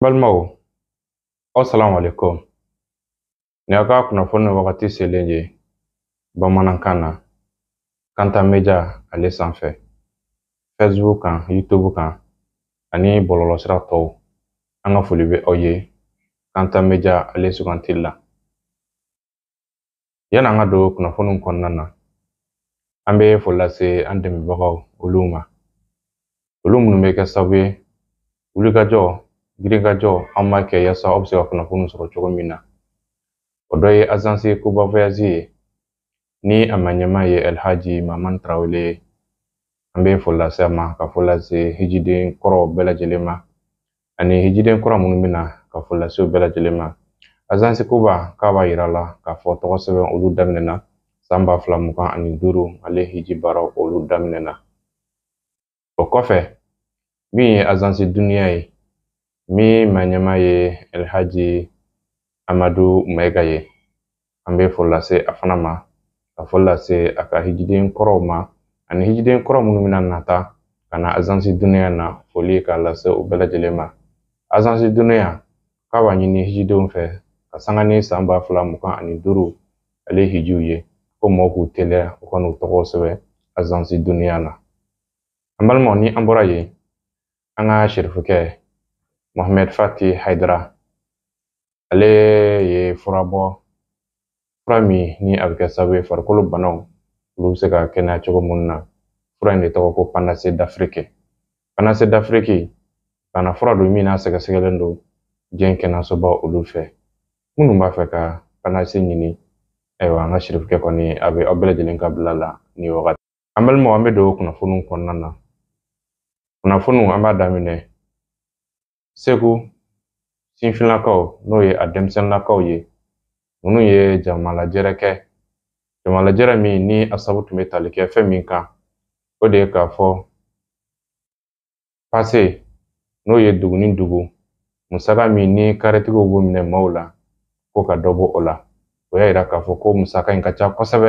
balimaw aw salamu alaikum nin aw ka kunnafoni wagati selen ye bamanankan na kanta meja ale sanfɛ facebook kan youtube kan ani bɔlɔlɔsira tɔw an ka foli bɛ aw ye kanta meja ale sugantili la Yanni an ka don kunnafoniw kɔnɔna na an bɛ foli lase an dɛmɛbagaw olu ma olu minnu bɛ kɛ sababu ye wulikajɔ girinkajɔ an b'a kɛ yaasa aw bɛ se ka kunnafoniw sɔrɔ cogo min na o dɔ ye azansi kuba voyazi ye ni a maɲɛma ye alhaji mamani tarawele ye an bɛ foli lase a ma ka foli lase hijiden kɔrɔw bɛɛ lajɛlen ma ani hijiden kura minnu bɛ na ka foli lase u bɛɛ lajɛlen ma azansi kuba k'a b'a yira la k'a fɔ tɔgɔ sɛbɛn olu daminɛna san ba fila mugan ani duuru ale hiji baaraw olu daminɛna o kɔfɛ min ye azansi duniya ye min maɲɛma ye alhaji amadu mayiga ye an bɛ foli lase a fana ma ka foli lase a ka hijiden kɔrɔw ma ani hijiden kɔrɔ minnu bɛna nata ka na azansi duniya na foli k'a lase u bɛɛ lajɛlen ma azansi duniya k'a b'a ɲini hijidenw fɛ ka sanga ni san ba fila mugan ani duuru ale hijiw ye ko mɔgɔw k'u teliya u ka n'u tɔgɔw sɛbɛn azansi duniya na an balimaw ni an bɔra yen an ka sirifukɛ mohamɛd fati hayidara ale ye fura bɔ fura min ni a bɛ kɛ sababu ye farikolo banaw olu bɛ se ka kɛnɛya cogo minnu na fura in de tɔgɔ ko panase dafiriki panase dafiriki bana fura don min n'a sɛgɛsɛgɛlen don diɲɛ kɛnɛyasoba olu fɛ minnu b'a fɛ ka panase ɲini ayiwa an ka sirifukɛ kɔni a bɛ aw bɛɛ lajɛlen ka bila la ni wagati an balimaw an bɛ don kunnafoniw kɔnɔna na kunnafoniw an b'a daminɛ segu sifinlakaw n'o ye a denmisɛnninlakaw ye minnu ye jamalajɛrɛ kɛ jamalajɛrɛ min ni a sabu tun bɛ tali kɛ fɛn min kan o de ye k'a fɔ pase n'o ye dugu ni dugu musaka min ni karitigiw b'o minɛ maaw la ko ka dɔ bɔ o la o y'a yira k'a fɔ ko musaka in ka ca kosɛbɛ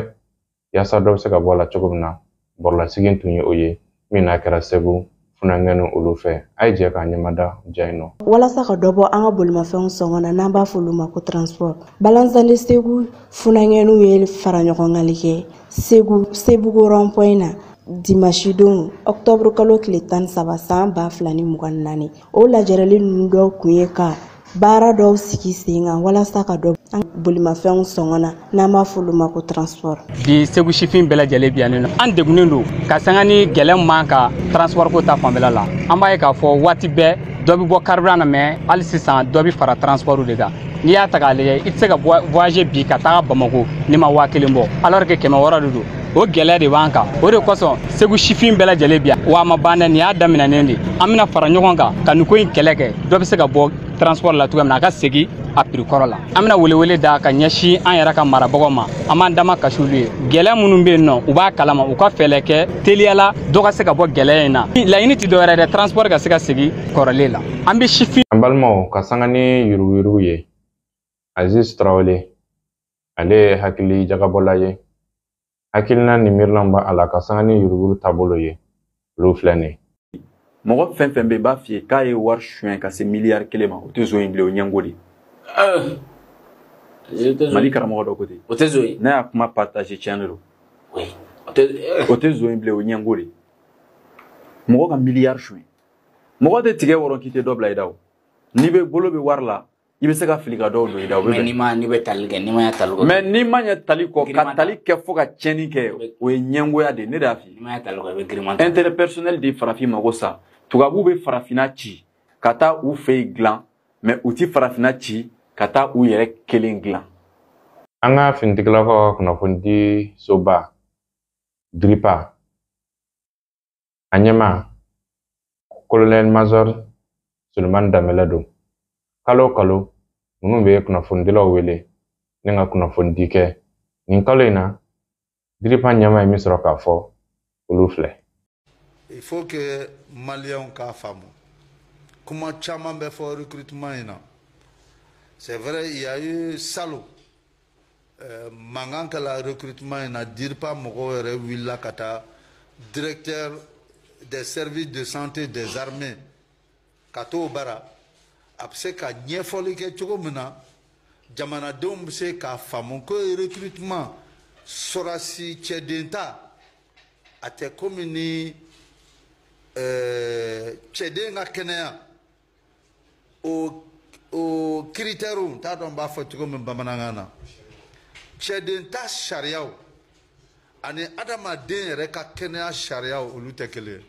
yaasa dɔ bɛ se ka bɔ a la cogo min na bɔrɔlasigi tun ye o ye min n'a kɛra segu funankɛni olu fɛ an ye jɛ k'an ɲɛmada ja in nɔ walasa ka dɔ bɔ an ka bolimafɛnw sɔngɔ na n'an b'a f'olu ma ko transport balansali segu funankɛniw ye faraɲɔgɔnkanli kɛ segu sebugu rɔnpɔyi na dimasi don ɔktɔburukalo tile tan ni saba san ba fila ni mugan naani o lajɛrɛli ninnu dɔw kun ye ka baara dɔw sigi sen kan walasa ka dɔ an bolimafɛnw sɔngɔ na n'an b'a f'olu ma ko transport bi segu sifin bɛɛ lajɛlen biyannen don an degunnen don ka sanga ni gɛlɛya ma ka transport ko ta fanfɛla la an b'a ye k'a fɔ waati bɛɛ dɔ bɛ bɔ carburant na mais hali sisan dɔ bɛ fara transport de kan n'i y'a ta k'a lajɛ i tɛ se ka voyage bi ka taga bamako n'i ma waa kelen bɔ alors que kɛmɛ wɔɔrɔ de don o gɛlɛya de b'an kan o de kosɔn segu sifin bɛɛ lajɛlen bi yan wa a ma ban dɛ nin y'a daminɛnen de an bɛna fara ɲɔgɔn kan ka nin ko in kɛlɛ kɛ dɔ bɛ se ka bɔ transport la cogoya min na a ka segin a prix kɔrɔ la an bɛna welewele da ka ɲɛsin an yɛrɛ ka marabagaw ma an b'an damakasi olu ye gɛlɛya minnu bɛ yen nɔ u b'a kalama u ka fɛɛlɛ kɛ teliya la dɔ ka se ka bɔ gɛlɛya in na laɲini tɛ dɔwɛrɛ dɛ transport ka se ka segin kɔrɔlen la an bɛ sifin an balimaw ka sanga ni yuruguyurugu ye aziz tarawele ale ye hakili jagabɔla ye hakilina ni miirilan b'a la ka sanga ni yuruguyurugu taabolo ye olu filɛ nin ye mɔgɔ fɛn fɛn bɛ b'a f'i ye k'a ye wari suɲɛ ka se miliyari kelen ma o tɛ zon ye bilen o ɲɛngo de mali karamɔgɔ dɔ ko ten o tɛ zon ye ne y'a kuma partager tiɲɛ de don o tɛ zon ye bilen o ɲɛngo de mɔgɔ ka miliyari suɲɛ mɔgɔ tɛ tigɛ wɔrɔ k'i tɛ dɔ bila i da o n'i bɛ bolo bɛ wari la i bɛ se ka fili ka dɔw don i da o mais n'i ma n'i bɛ tali kɛ n'i ma ɲɛ tali kɔ mais n'i ma ɲɛ tali kɔ ka tali kɛ fo ka tiɲɛni kɛ o ye ɲɛngoya de ye ne de y'a f'i ye n'i ma ɲɛ tali kɔ i bɛ giriman ta intérêt personnel de farafin mago sa tubabuw bɛ farafinna ci ka taa u fɛ yen dilan mais u ti farafinna ci ka taa u yɛrɛ kelen dilan an ka finitigilakaw ka kunnafonidi soba diripa A ɲɛmaa kolonɛli mazɔr sulemani danbɛlɛ don kalo o kalo ninnu bɛ kunnafonidilaw wele ni ka kunnafonidi kɛ nin kalo in na diripa ɲɛmaa ye min sɔrɔ k'a fɔ olu filɛ il faut que maliyɛnw k'a faamu kuma caman bɛ fɔ recrutement in na c'est vrai il y a eu salon mankan kɛla recrutement in na DIRPA mɔgɔw yɛrɛ wulila ka taa directeur des services de santé des armées ka t'o bara a bɛ se ka ɲɛfɔli kɛ cogo min na jamanadenw bɛ se k'a faamu ko recrutement sɔrɔdasi cɛden ta a tɛ komi ni cɛden ka kɛnɛya o o kiritɛriw n t'a dɔn n b'a fɔ cogo min bamanankan na cɛden ta sariyaw ani adamaden yɛrɛ ka kɛnɛya sariyaw olu tɛ kelen ye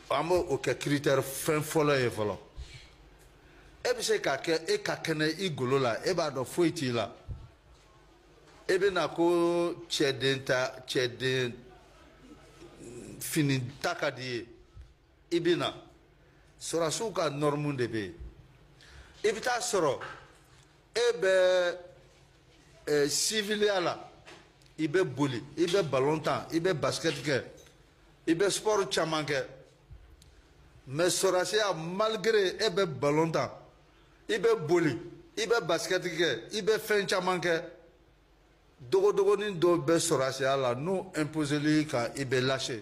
an b'o kɛ kiritɛri fɛn fɔlɔ ye fɔlɔ e bɛ se k'a kɛ e ka kɛnɛ i golo la e b'a dɔn foyi t'i la e bɛ na ko cɛden ta cɛden fini ta ka d'i ye. i bɛ na sɔrɔdasiw ka nɔrɔmu de bɛ yen i bɛ taa sɔrɔ e bɛ ɛ siviliya la i bɛ boli i bɛ balon tan i bɛ basikɛti kɛ i bɛ sipɔri caman kɛ mais sɔrɔdasiya malgré e bɛ balon tan i bɛ boli i bɛ basikɛti kɛ i bɛ fɛn caman kɛ dogodogonin dɔw bɛ sɔrɔdasiya la n'u imposela i kan i bɛ lâcher.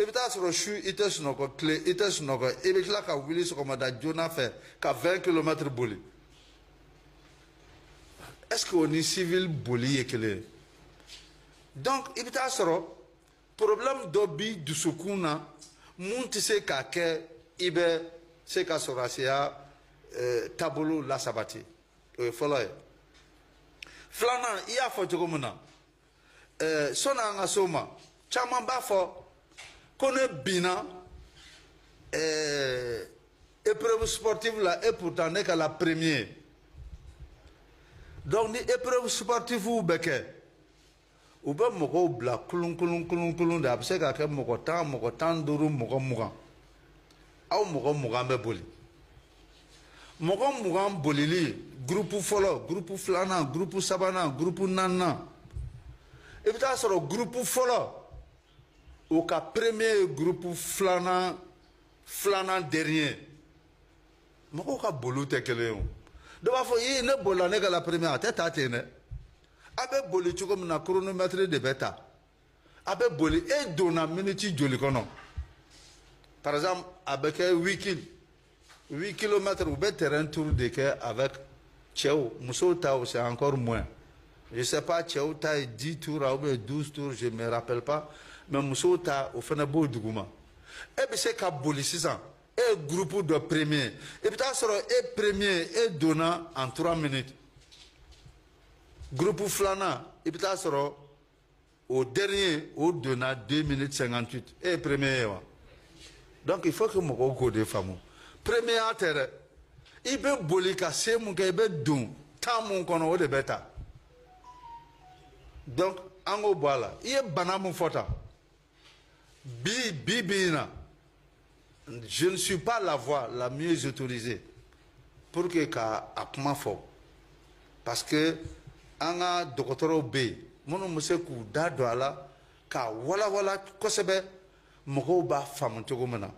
i bɛ taa sɔrɔ su i tɛ sunɔgɔ tile i tɛ sunɔgɔ i bɛ tila ka wuli sɔgɔmada joona fɛ ka 20 kilomɛtiri boli est-ce que o ni civil boli ye kelen ye donc i bɛ taa sɔrɔ problème dɔ b'i dusukun na mun tɛ se k'a kɛ i bɛ se ka sɔrɔdasiya eh, taabolo lasabati o ye fɔlɔ ye filanan i y'a fɔ cogo min na. ɛɛ sɔni an ka s'o ma caman b'a fɔ ko ne binna ɛɛ épreuve sportive la et pourtant ne kɛla premier donc ni épreuve sportivew bɛ kɛ u bɛ mɔgɔw bila kulun kulun kulun kulun de a bɛ se ka kɛ mɔgɔ tan mɔgɔ tan duuru mɔgɔ mugan aw mɔgɔ mugan bɛ boli. mɔgɔ mugan bolili gurupu fɔlɔ gurupu filanan gurupu sabanan gurupu naaninan i bɛ taa sɔrɔ gurupu fɔlɔ o ka premier ye gurupu filanan filanan dernier mɔgɔw ka boliw tɛ kelen ye o dɔ b'a fɔ ii ne bolila ne kɛla premier a tɛ taa ten dɛ a bɛ boli cogo min na chronomètre de bɛ ta a bɛ boli e donna miniti joli kɔnɔ par exemple a bɛ kɛ huit kil huit kilomètres u bɛ terrain tour de kɛ avec cɛw musow ta o c'est encore moins je sais pas cɛw ta ye dix tours ou bien douze tours je me rappelle pas mais musow ta o fana b'o duguma e bɛ se ka boli sisan e ye groupe dɔ premier i bɛ taa sɔrɔ e premier e donna en trois minutes groupe filanan i bɛ taa sɔrɔ o dernier o donna 2 minutes 58 e ye premier ye wa donc il faut que mɔgɔw k'o de faamu premierya tɛ dɛ i bɛ boli ka se mun kɛ i bɛ don temps mun kɔnɔ o de bɛ ta donc an k'o bɔ a la i ye bana mun fɔ tan Bi, bi, bi in na je ne suis pas la voix la mieux autorisée pour que ka a kuma fɔ parce que an ka dɔgɔtɔrɔw bɛ yen minnu bɛ se k'u da don a la k'a walawala kosɛbɛ mɔgɔw b'a faamu cogo min na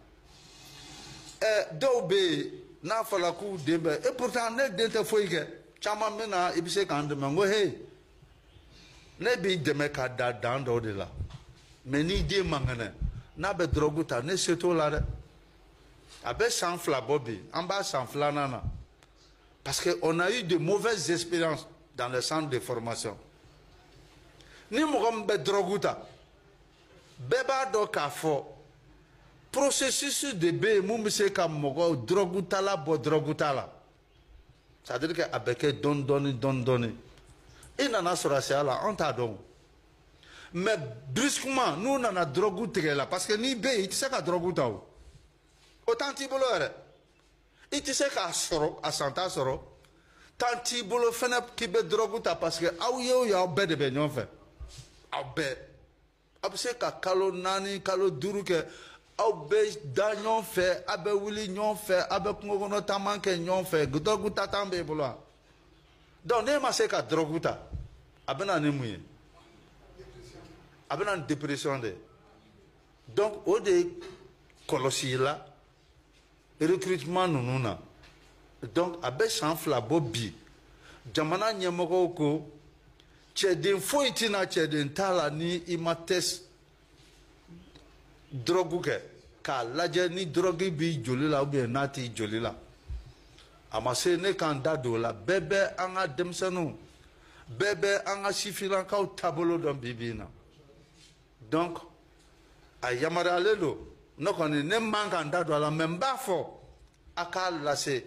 ɛ dɔw bɛ yen n'a fɔra k'u den bɛ et pourtant ne den tɛ foyi kɛ caman bɛ na i bɛ se k'an dɛmɛ n ko hey ne b'i dɛmɛ ka da dan dɔw de la mais n'i den man kɛnɛ n'a bɛ dɔrɔgu ta ne se t'o la dɛ a bɛ san fila bɔ bi an b'a san filanan na parce que on a eu de mauvaises expériences dans le centre de formation ni mɔgɔ min bɛ dɔrɔgu ta bɛɛ b'a dɔn k'a fɔ processus de bɛ yen min bɛ se ka mɔgɔ dɔrɔgutala bɔ dɔrɔguta la c'est à dire que a bɛ kɛ dɔɔni dɔɔni dɔɔni dɔɔni i nana sɔrɔdasiya la an t'a dɔn mais brusquement n'u nana dɔrɔgu tigɛ la parce que n'i bɛ yen i tɛ se ka dɔrɔgu ta o o temps t'i bolo yɛrɛ i tɛ se k'a sɔrɔ a santa sɔrɔ temps t'i bolo fɛnɛ k'i bɛ dɔrɔgu ta parce que aw ye o ye aw bɛɛ de bɛ ɲɔgɔn fɛ aw bɛɛ. aw bɛ se ka kalo naani kalo duuru kɛ aw bɛ da ɲɔgɔn fɛ aw bɛ wuli ɲɔgɔn fɛ aw bɛ kungo kɔnɔ taama kɛ ɲɔgɔn fɛ dɔrɔgu ta temps b'e bolo wa donc n'e ma se ka dɔrɔgu ta a bɛ na ni mun ye a bɛ na ni dépression de ye donc o de kɔlɔsila recrutement ninnu na donc a bɛ san fila bɔ bi jamana ɲɛmɔgɔw ko cɛden foyi tɛ na cɛden ta la ni i ma test dɔrɔgu kɛ k'a lajɛ ni dɔrɔgu b'i joli la ou bien n'a t'i joli la a ma se ne k'an da don o la bɛɛ bɛ an ka denmisɛnninw bɛɛ bɛ an ka sifinnakaw taabolo dɔn bi bi in na donc a yamaruyalen don ne kɔni ne man ka n da don a la mais n b'a fɔ a k'a lase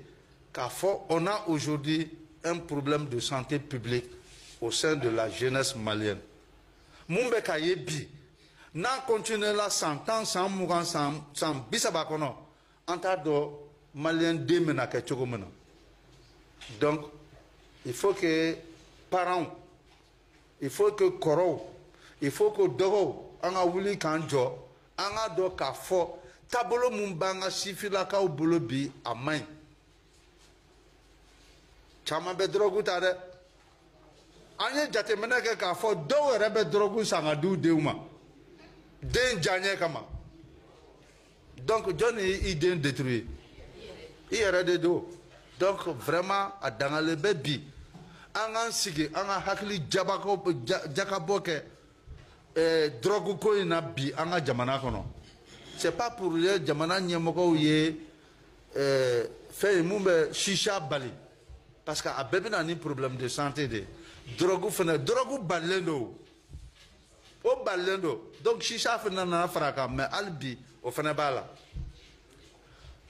k'a fɔ on a aujourd'hui un problème de santé publique au sein de la jeunesse malienne mun bɛ ka ye bi n'a continué la san tan san mugan san bi saba kɔnɔ an t'a dɔn maliyɛn den bɛna kɛ cogo min na donc il faut que parents il faut que kɔrɔw il faut que dɔgɔw an ka wuli k'an jɔ an k'a dɔn k'a fɔ taabolo min b'an ka sifinnakaw bolo bi a man ɲi caman bɛ dɔrɔgu ta dɛ an ye jateminɛ kɛ k'a fɔ dɔw yɛrɛ bɛ dɔrɔgu san ka di u denw ma den diyaɲɛ kama donc jɔn de y'i den détruire i yɛrɛ de don donc vraiment a dagalen bɛ bi an k'an sigi an ka hakili jabako jakabɔ kɛ eh, drogue ko in na bi an ka jamana kɔnɔ c'est pas pour rien jamana ɲɛmɔgɔw ye eh, fɛn ye mun bɛ shisha bali parce que a bɛɛ bɛ na ni problème de santé de ye drogue fana drogue balilen don o balilen don donc shisha fana nana fara a kan mais hali bi o fana b'a la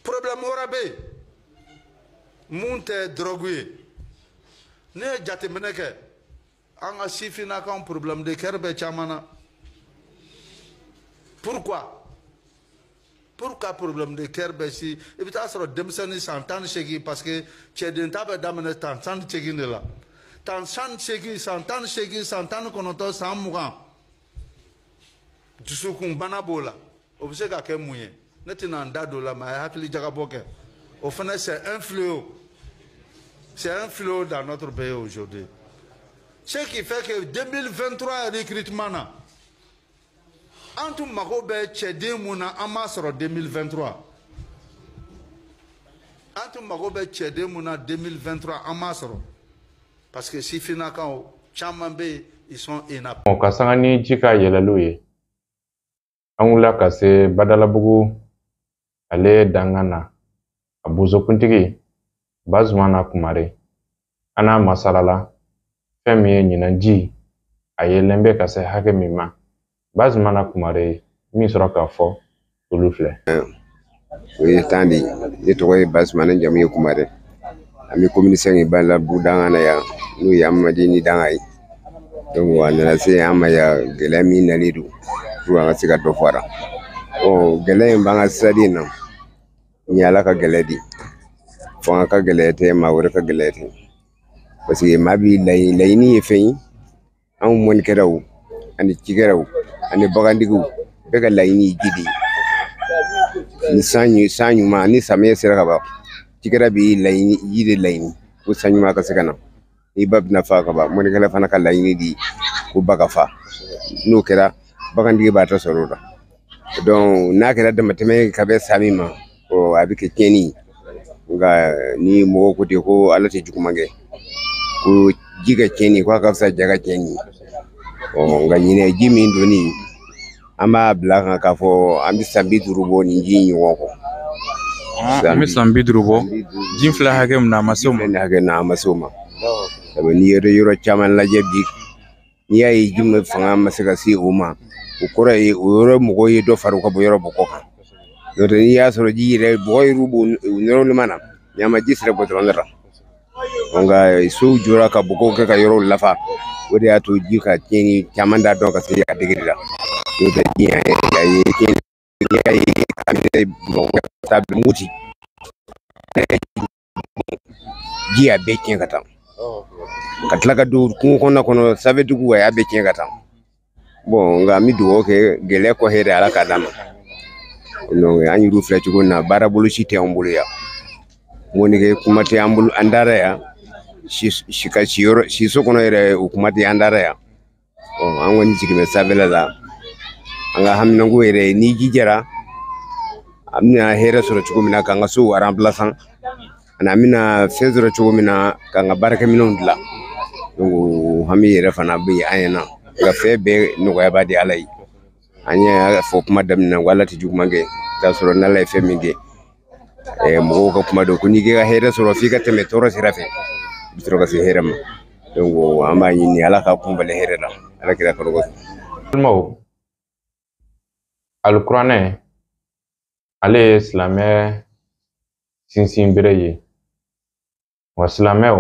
problème wɛrɛ bɛ yen mun tɛ dɔrɔgu ye ne ye jateminɛ kɛ an ka sifinnakaw problème de cœur bɛ caman na pourquoi pourquoi problème de cœur bɛ si i bɛ taa sɔrɔ denmisɛnnin san tan ni seegin parce que cɛden ta bɛ daminɛ san tan ni seegin de la san tan ni seegin san tan ni seegin san tan ni kɔnɔntɔn san mugan dusukunbana b'o la o bɛ se ka kɛ mun ye ne tɛna n da don o la mais a ye hakili jagabɔ kɛ o fana c'est un fléau c'est un fléau dans notre pays aujourd'hui ce qui fait que 2023 recrutement na an tun mago bɛ cɛden mun na an m'a sɔrɔ 2023 an tun mago bɛ cɛden mun na 2023 an m'a sɔrɔ parce que sifinnakaw caman bɛ yen ils sont inaptes. ɔ ka sanga ni ji ka yɛlɛliw ye an wulila ka se badalabugu ale dankan na a bozokuntigi bazumana kumare an n'a masalala fɛn min ye ɲinan ji a yɛlɛn bɛ ka se hakɛ min ma bazumana kumare ye min sɔrɔ k'a fɔ olu filɛ o ye tan de ye ne tɔgɔ ye bazumana jamu ye kumare an bɛ commune cinq badalabugu dankan na yan n'o ye amadi ni dankan ye a nana se an ma yan gɛlɛya min nalen don fo an ka se ka dɔ fɔ a la gɛlɛya in b'an ka siradi in na nin ye ala ka gɛlɛya de fo an ka gɛlɛya tɛ maa wɛrɛ ka gɛlɛya tɛ parce que maa bɛɛ laɲini ye fɛn ye anw mɔnikɛlaw ani cikɛlaw ani bagantigiw bɛɛ ka laɲini ye ji de ye ni san ɲu san ɲuman ni samiya sera ka ban cikɛla b'i laɲini ji de laɲini ko san ɲuman ka se ka na ni ba bɛna fa ka ban mɔnikɛla fana ka laɲini de ko ba ka fa n'o kɛra bagantigi b'a ta sɔrɔ o la donc n'a kɛra damatɛmɛ ye ka bɛn san min ma ɔ a bɛ kɛ tiɲɛni ye nka ni mɔgɔw ko ten ko ala tɛ juguman kɛ ko ji ka tiɲɛni ko a ka fisa ja ka tiɲɛni ye ɔ nka ɲinan ji min don nin an b'a bila kan k'a fɔ an bɛ san bi duuru bɔ nin ji in ɲɔgɔn kɔ an bɛ san bi duuru bɔ ji filɛ hakɛ min na a ma se o ma hakɛ na a ma se o ma sabu n'i ye yɔrɔ caman lajɛ bi n'i y'a ye ji min fanga ma se ka se o ma o kɔrɔ ye o yɔrɔ mɔgɔw ye dɔ fara u ka bɔ yɔrɔ bɔgɔ kan n'o tɛ n'i y'a sɔrɔ ji yɛrɛ bɔgɔ yɛrɛ b'o normalement ɲama ji sera bɔ dɔrɔn nka sow jɔra ka bɔgɔw kɛ ka yɔrɔw lafa o de y'a to ji ka tiɲɛni caman da dɔn ka se a degeli la n'o tɛ ji yɛrɛ a ye tiɲɛni kɛ ye a bɛ mɔgɔ ka taa mugu ci ji a bɛɛ tiɲɛ ka taa ka tila ka don kungo kɔnɔna kɔnɔ safetigiw a y'a bɛɛ tiɲɛ ka taa bɔn nka an bɛ dugawu kɛ gɛlɛya kɔ hɛrɛ ala k'a d'an ma an y'u filɛ cogo min na baara bolo si tɛ an bolo yan mɔnikɛ kuma tɛ an bolo an dara yan si ka si yɔrɔ siso kɔnɔ yɛrɛ o kuma tɛ an dara yan an kɔni jigin bɛ sanfɛla la an ka haminanko yɛrɛ ni ji jara an bɛna hɛrɛ sɔrɔ cogo min na k'an ka sow remplacer ani an bɛna fɛn sɔrɔ cogo min na k'an ka baarakɛminɛnw dilan o hami yɛrɛ fana bɛ yen an ɲɛna nka fɛn bɛɛ nɔgɔyabaa de ala ye an y'a fɔ kuma daminɛ ko ala tɛ juguman kɛ k'a sɔrɔ n'ala ye fɛn min kɛ ɛɛ mɔgɔw ka kuma don ko n'i k'i ka hɛrɛ sɔrɔ f'i ka tɛmɛ tɔɔrɔ sira fɛ i bɛ sɔrɔ ka se hɛrɛ ma an b'a ɲini ala ka kunbali hɛrɛ la ala kira kɔrɔ kosɛbɛ. balimaw alikuranɛ ale ye silamɛ sinsinbere ye wa silamɛw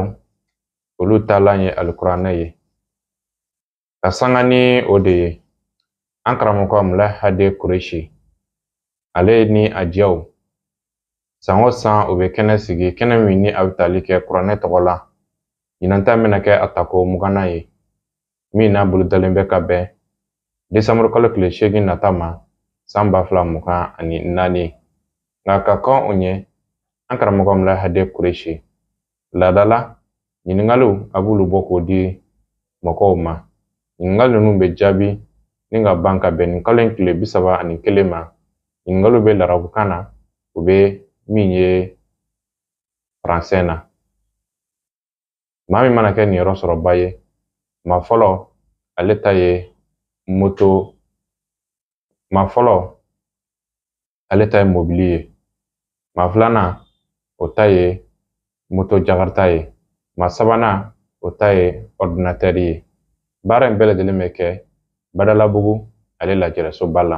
olu taalan ye alikuranɛ ye ka sanga ni o de ye an karamɔgɔ mula hade kuresi ale ni a jɛw san o san u bɛ kɛnɛ sigi kɛnɛ min ni a bɛ tali kɛ kuranɛ tɔgɔ la ɲinan ta bɛna kɛ a tako mugannan ye min n'a bolodalen bɛ ka bɛn desanburu kalo tile seegin nata ma san ba fila mugan ani naani nka ka kɔn o ɲɛ an karamɔgɔ mula hade kuresi laadala ɲiningaliw a b'olu bɔ k'o di mɔgɔw ma ɲiningali ninnu bɛ jaabi ni ka ban ka bɛn nin kalo in tile bi saba ani kelen ma ɲiningaliw bɛ larabukan na o bɛ min ye faransɛ na maa min mana kɛ niyɔrɔ sɔrɔbaa ye maa fɔlɔ ale ta ye moto maa fɔlɔ ale ta ye mobili ye maa filanan o ta ye moto jakarita ye maa sabanan o ta ye ɔridinatɛri ye baara in bɛɛ lajɛlen bɛ kɛ badalabugu ale lajɛrɛsoba la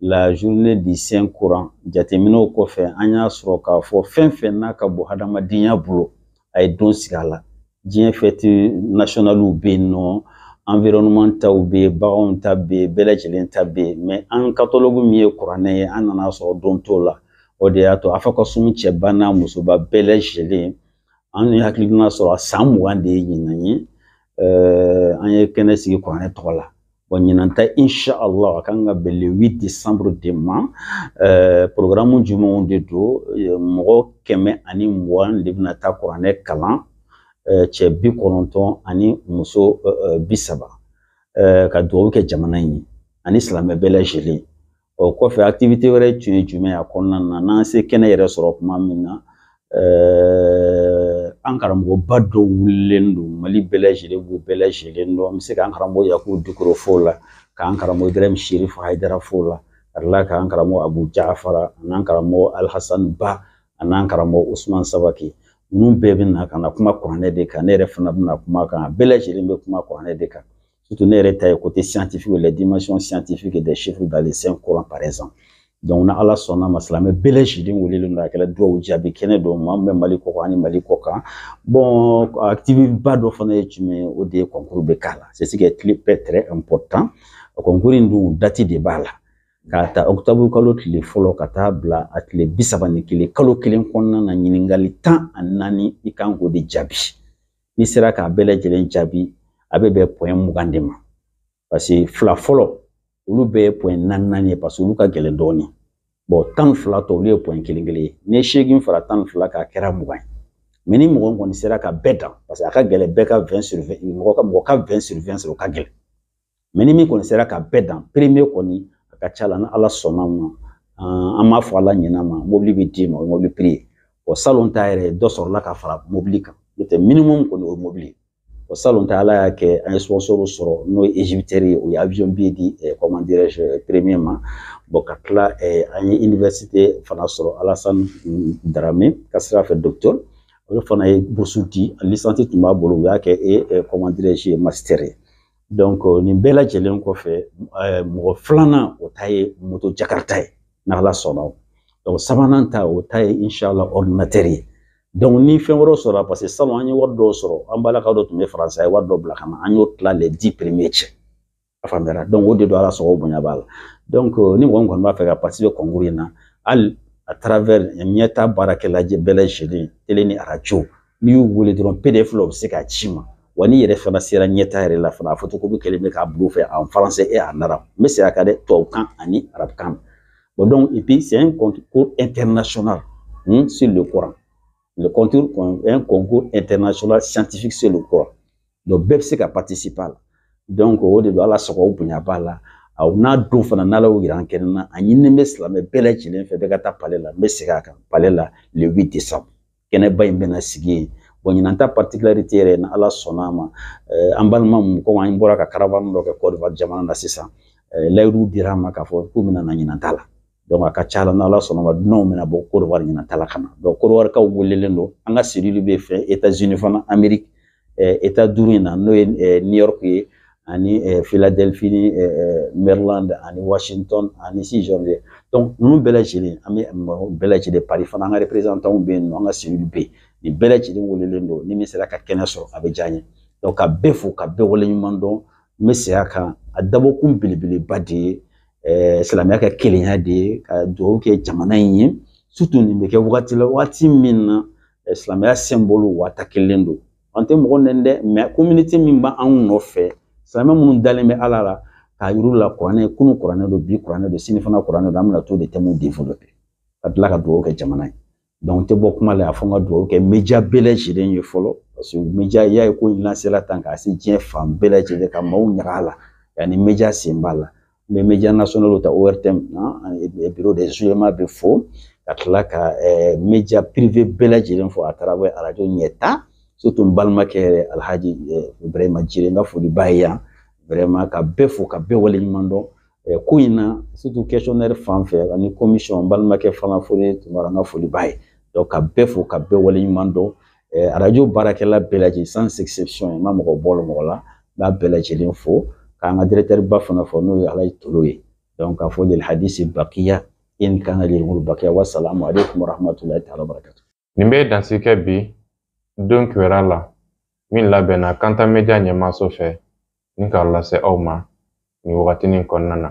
la journée du saint coran jateminɛw kɔfɛ an y'a sɔrɔ k'a fɔ fɛn o fɛn n'a ka bon hadamadenya bolo a ye don sigi a la diɲɛ fɛti nasiyɔnaliw bɛ yen nɔ environnement taw bɛ yen baganw ta bɛ yen bɛɛ lajɛlen ta bɛ yen mɛ an katalɔgu min ye kuranɛ ye an nana a sɔrɔ don t'o la o de y'a to a fɔ ka sun cɛba n'a musoba bɛɛ lajɛlen an ye hakilina sɔrɔ san mugan de ye ɲinan ye an ye kɛnɛ sigi kuranɛ tɔgɔ la Bon, ɲinan ta insha Allah a kan ka bɛn le 8 décembre de ma euh, programme jumɛnw de don euh, mɔgɔ kɛmɛ ani mugan de bɛna taa kuranɛ kalan euh, cɛ bi kɔnɔntɔn ani muso euh, euh bi saba euh, ka dugawu kɛ jamana in ye ani silamɛ bɛɛ lajɛlen o kɔfɛ activité wɛrɛ tun ye jumɛn ye a kɔnɔna na n'an ye kɛnɛ yɛrɛ sɔrɔ kuma min na Euh, an karamɔgɔba dɔw welelen don mali bɛɛ lajɛlen b'u bɛɛ lajɛlen dɔn an bɛ se k'an karamɔgɔ yakubu dukure f'o la k'an karamɔgɔ ibrahim sherif haidara f'o la ka tila k'an karamɔgɔ abu jafara an'an karamɔgɔ alhasan ba an'an karamɔgɔ usman sabaki ninnu bɛɛ bɛ na ka na kuma kuranɛ de kan ne yɛrɛ fana bɛna kuma a kan a bɛɛ lajɛlen bɛ kuma kuranɛ de kan surtout ne yɛrɛ ta ye côté scientifique la dimension scientifique des chiffres dans le saint Coran par exemple donc n'ala sɔnna a ma silamɛ bɛɛ lajɛlen welelen don a kɛra duwawu jaabi kɛnɛ don maa min bɛ mali kɔ kan ani mali kɔ kan bon activité ba dɔ fana ye jumɛn ye o de ye concours bɛ k'a la c'est ce qui est très très important concours in dun date de b'a la k'a ta octobre kalo tile fɔlɔ ka taa a bila a tile bi saba ni kelen kalo kelen kɔnɔna na ɲininkali tan ani naani i kan k'o de jaabi n'i sera k'a bɛɛ lajɛlen jaabi a bɛ bɛn point mugan de ma parce que fila fɔlɔ olu bɛɛ ye point naani naani ye parce que olu ka gɛlɛn dɔɔnin bon tan ni fila tɔ olu ye point kelen kelen ye n'i ye seegin fara tan ni fila kan a kɛra mugan ye mais ni mɔgɔ kɔni sera ka bɛɛ dan parce que a ka gɛlɛn bɛɛ ka vingt sur mɔgɔ ka mɔgɔ ka vingt sur vingt sɔrɔ o ka gɛlɛn mais ni min kɔni sera ka bɛɛ dan premier kɔni a ka ca la ni ala sɔnna a ma an m'a fɔ ala ɲɛna ma mobili bɛ d'i ma o ye mobili prix ye o salon ta yɛrɛ dɔ sɔrɔla ka fara mobili kan n'o tɛ minimum kɔni o ye mobili ye o salon ta ala y'a kɛ an ye sponsor sɔrɔ n'o ye Egyptair ye o ye avion billet di comment dirais je premier ma bon ka tila an ye université fana sɔrɔ alasani darame ka sira fɛ docteur olu fana ye bourse di licence tun b'a bolo u y'a kɛ e comment dirais je master ye donc euh, nin bɛɛ lajɛlen kɔfɛ euh, mɔgɔ filanan o ta ye moto jakarita ye n'ala sɔnna o donc sabanan ta o ta ye inshallah ordinateur ye donc ni fɛn wɛrɛw sɔrɔla parce que salon an ye wari dɔw sɔrɔ an balimakɛw dɔ tun bɛ faransa ye wari dɔ bila ka na an y'o tila les dix premiers cɛ a faamuyara donc o de don ala sago bonya b'a la donc euh, ni mɔgɔ min kɔni b'a fɛ ka participer concours in na hali à travers ɲɛta baarakɛla bɛɛ lajɛlen tele ni arajo n'i y'u wele dɔrɔn pdf la u bɛ se k'a ci i ma wa n'i yɛrɛ fana sera ɲɛta yɛrɛ la fana a photocopie kɛlen bɛ k'a bila u fɛ en français et en arabe n bɛ segin a kan dɛ tubabukan ani arabukan bon donc et puis c'est un concours international hmm, sur le Coran le concours un concours international scientifique sur le Coran donc bɛɛ bɛ se ka participer a la donc o de don ala sago o bonya b'a la an'a don fana n'ala y'o yira an kɛnɛ na a ɲininen bɛ silamɛ bɛɛ lajɛlen fɛ bɛɛ ka taa palais la n bɛ segin a kan palais la le 8 décembre kɛnɛba in bɛna sigi yen bon ɲinan ta particularité yɛrɛ ni ala sɔnna a ma eh, an balima mun komi an bɔra ka karavani dɔ kɛ kɔdivar jamana na sisan eh, layidu dira an ma k'a fɔ k'u bɛna na ɲinan ta la donc a ka ca la n'ala sɔnna a ma dunanw bɛna bɔ kodivar ɲinan ta la ka na donc kodivarikaw welelen don an ka cellule bɛ fɛn etats unis fana amérique état duuru in na n'o ye new york ye ani philadelphie ni maryland ani washington ani si jɔn ye donc ninnu bɛɛ lajɛlen an bɛ mɔgɔ bɛɛ lajɛlen paris fana an ka représentanw bɛ yen nɔ an ka cellule bɛ yen nin bɛɛ lajɛlen welelen don ni min sera ka kɛnɛ sɔrɔ a bɛ diya n ye donc ka bɛɛ fo ka bɛɛ waleɲumandɔn n bɛ segin a kan a dabɔkun belebeleba de ye Eh, silamɛya ka kelenya de ye ka dugawu kɛ jamana in ye surtout nin bɛ kɛ wagati la wagati min na eh, silamɛya symbole wata kelen don an tɛ mɔgɔ nɛni dɛ mais communauté min bɛ anw nɔfɛ silamɛ minnu dalen bɛ ala la k'a yir'u la kuranɛ kunun kuranɛ don bi kuranɛ don sini fana kuranɛ don an bɛna to de thèmes développer ka tila ka dugawu kɛ jamana ye donc n tɛ bɔ kuma la yan fo n ka dugawu kɛ media bɛɛ lajɛlen ye fɔlɔ parce que media y'a ye ko in lansela tan k'a se diɲɛ fan bɛɛ lajɛlen ka maaw ɲaga a la yanni media sen b'a la n bɛ media national ta ORTM na bureau des oulémas bɛɛ fo ka tila ka media privé bɛɛ lajɛlen fo à travers arajo ɲɛtaa surtout n balimakɛ yɛrɛ alhaji ibrahima jire n ka foli b'a ye yan vraiment ka bɛɛ fo ka bɛɛ waleɲumandɔn ko in na surtout questionnaire fan fɛ ani commission n balimakɛ fana foli tun b'a la n ka foli b'a ye donc ka bɛɛ fo ka bɛɛ waleɲumandɔn arajo baarakɛla bɛɛ lajɛlen sans exception n ma mɔgɔ bɔ mɔgɔ la n b'a bɛɛ lajɛlen fo k'an ka dirɛkitɛriba fana fo n'o ye alaye tolo ye k'a fɔ lil hadisi bakiya in kana lil umuri bakiya wa salamu aleykum wa rahmatulahi taala barakatu nin bɛ dansigi kɛ bi don kibaru la min labɛnna kanta media ɲɛmaaso fɛ ni k'a lase aw ma nin wagatinin kɔnɔna na